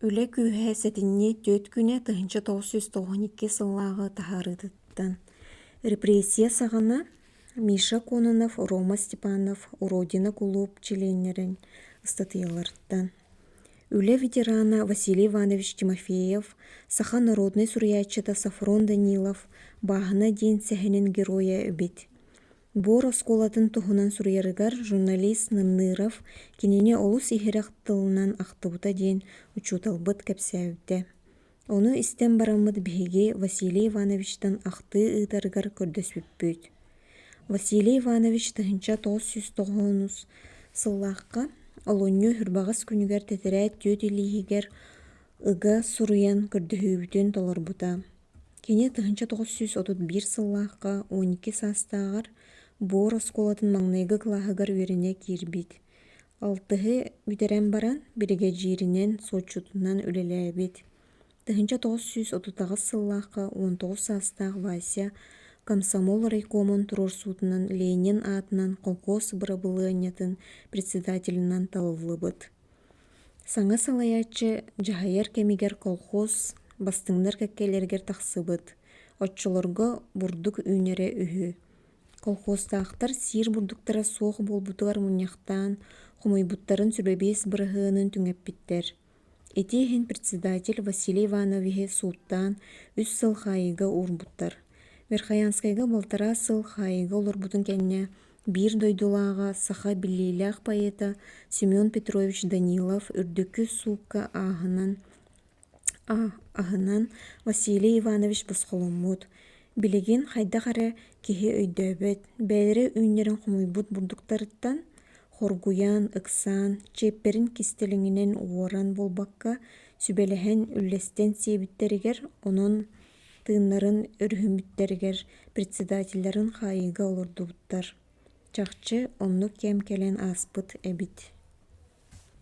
Үлэ күүһэ сэтинньи түөрт күнэ тыһыынча тоҕус сүүс тоҕуон икки сыллааҕы таһаарыытыттан репрессия саҕана Миша Кононов, Рома Степанов Родина кулууп чилиэннэрин ыстатыйаларыттан Үлэ ветерана Василий Иванович Тимофеев, саха народнай суруйааччыта Софрон Данилов бааһына диэн сэһэнин геройа эбит буор оскуолатын туһунан суруйарыгар журналист нынныров кинини олус иһирэх тылынан ахтыбыта диэн учууталбыт кэпсээбитэ ону истэн бараммыт биһиги василий ивановичтан ахтыы ыытарыгар көрдөспүппүт василий иванович тыһыынча тоҕус сүүс тоҕоонус сыллаахха олунньу үрбэҕэс күнүгэр тэтэрээт түөт илииһигэр ыга суруйан көрдөһүүбүтүн толорбута. Кини тыһыынча тоҕус сүүс отут биир сыллаахха он икки саастааҕар буор оскуолатын маҥнайгы кылааһыгар үөрэнэ киирбит. Алтыһы бүтэрэн баран биригэдьииринэн, суотчутунан үлэлээбит. Тыһыынча тоҕус сүүс отутаҕыс сыллаахха он тоҕус саастаах Вася комсомол райкомун туруорсуутунан Ленин аатынан холкуос бырабылыанньатын председателинэн талыллыбыт. саҥа салайааччы дьаһайар кэмигэр колхоз бастыҥнар кэккэлэригэр тахсыбыт оччолорго бурдук үүнэрэ үһү колхозтаахтар сиир бурдуктара суох буолбутугар мунньахтаан хомуйбуттарын сүбэбиэс быраһыанын түҥэппиттэр ити иһин председатель василий ивановиһы сууттаан үс сыл хаайыыга уурбуттар верхоянскайга балтараа сыл хаайыыга олорбутун кэннэ биир дойдулааҕа саха биллиилээх поэта семен петрович данилов үрдүкү суукка ааһынан аһынан василий иванович босхоломмут билигин хайдах эрэ киһи өйдөөбөт бэйэлэрэ үүннэрэн хомуйбут бурдуктарыттан хоргуйан ыксаан чиэппэрин кистэлэҥинэн уоран буолбакка сүбэлэһэн үллэстэн сиэбиттэригэр онон тыыннарын өрүһүйбүттэригэр председателлэрин хаайыыга олордубуттар чахчы оннук кэм кэлэн ааспыт эбит